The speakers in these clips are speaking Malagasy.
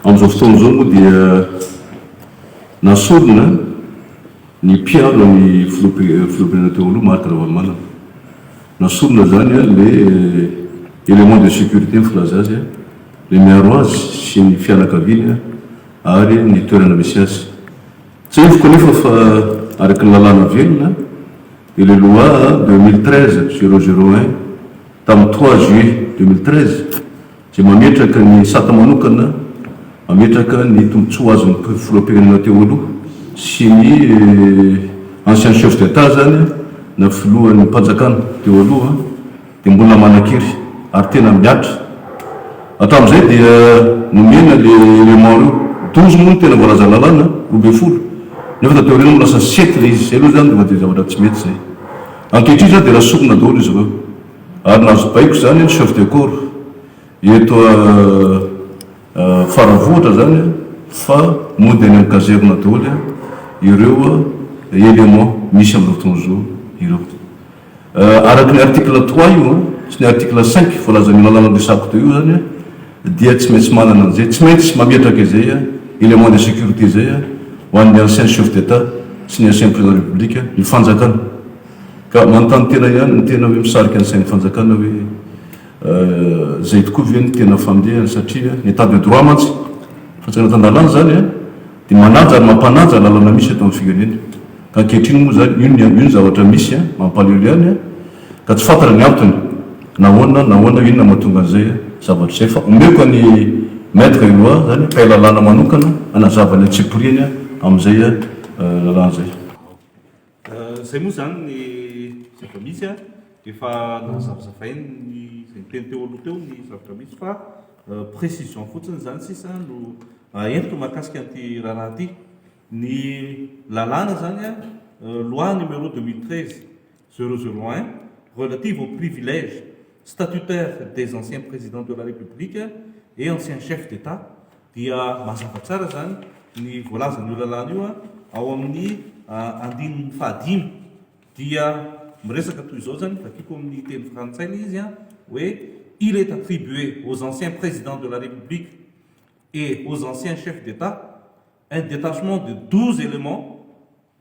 Amin'izao fotoana izao moa dia nasorina ny mpiaro an'i Filoham-pirenena teo aloha Marc Ravalomanana. Nasorina izany ilay élément de sécurité filaza azy, ilay miaro azy sy ny fianakaviany ary ny toerana misy azy. Tsiahiviko anefa fa araka ny lalàna velona dia ilay loi deux mille treize zéro zéro un tamin'ny trois juillet deux mille treize, izay mametraka ny sata manokana mametraka ny tombontsoa azon'ny filoham-pirenena teo aloha sy ny ancien chef d'Etat izany na filohan'ny mpanjakana teo aloha dia mbola manan-kery ary tena mihatra. Hatramin'izay dia nomena ilay élément ireo. Douze moa no tena voalazan'ny lalàna, roa ambin'ny folo, nefa tateo aoriana no lasa sept ilay izy. Izay aloha izany efa dia zavatra tsy mety izay. Ankehitriny izao dia raha sorona daholo izy ireo. Ary nahazo baiko izany ny chef de corps eto Faravohitra izany fa mody any amin'ny caserne daholo ireo éléments misy amin'ireo mpitondra-zo ireo. Araka ny article trois io sy ny article cinq voalazan'io lalàna resako teo io izany dia tsy maintsy manana an'izay, tsy maintsy mametraka izay éléments de sécurité izay ho an'ny anciens chefs d'Etat sy ny anciens présidents de la République ny fanjakana. Ka manontany tena ihany ny tena hoe misarika ny sain'ny fanjakana hoe izay tokoa ve no tena fandehany satria ny état de droit mantsy fa tsy anatin-dalàna izany an, dia manaja ary mampanaja ny lalana misy eto amin'ny firenena. Ka ankehitriny moa izany io io ny zavatra misy an, mampalahelo ihany an, ka tsy fantatra ny antony nahoana nahoana inona mahatonga an'izay zavatra izay fa omeko an'i Maître Eloi izany mpay lalàna manokana hanazava ny antsipiriany amin'izay lalàna izay. Izay moa izany ny zava-misy a, efa nazavazavainy ny izay niteny teo aloha teo ny zavatra misy fa précision fotsiny izany sisa no aentiko mahakasika an'ity raharaha ity. Ny lalàna izany a, loi numéro deux mille treize zéro zéro un relative au privilège statutaire des anciens présidents de la République et anciens chefs d'Etat, Dia mazava tsara izany ny voalazan'io lalàna io ao amin'ny andininy fahadimy. Dia miresaka toy izao izany, vakiako amin'ny teny frantsay ilay izy, hoe Il est attribué aux anciens Présidents de la République et aux anciens Chefs d'État un détachement de douze éléments,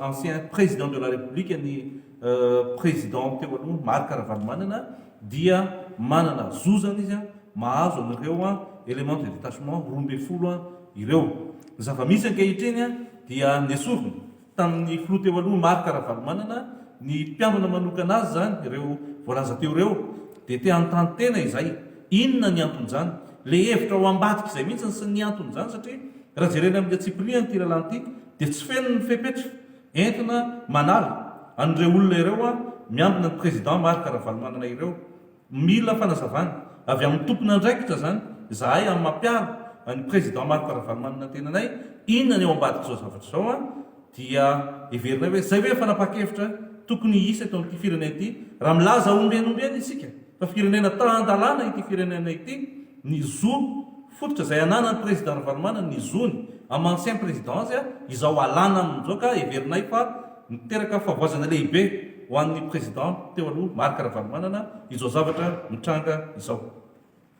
ancien Président de la République ny Président teo aloha Marc Ravalomanana dia manana zo zany izy mahazo an'ireo éléments de détachement roa ambin'ny folo ireo. Ny zava-misy ankehitriny dia nesorina tamin'ny Filoha teo aloha Marc Ravalomanana ny mpiambina manokana azy zany ireo voalaza teo ireo dia te hanontany tena izay inona ny anton'izany le hevitra ao ambadik'izay mihitsy ny anton'izany satria raha jerena amin'ity antsipirihany ity lalàna ity dia tsy feno ny fepetra entina manala an'ireo olona ireo miambina ny Président Marc Ravalomanana ireo. Mila fanazavana avy amin'ny tompon'andraikitra izany izahay amin'ny mampiaro an'i Président Marc Ravalomanana tenanay, inona ny ao ambadik'izao zavatra izao dia heverinay hoe izay ve fanapahan-kevitra tokony hisy eto amin'ity firenena ity raha milaza ombieny ombieny isika fa firenena tahan-dalàna ity firenena ity ny zo Fototra izay ananan'ny Président Ravalomanana ny zony am ancien Président azy izao alana aminy izao ka heverinay fa miteraka fahavoazana lehibe ho an'ny Président teo aloha Marc Ravalomanana izao zavatra mitranga izao.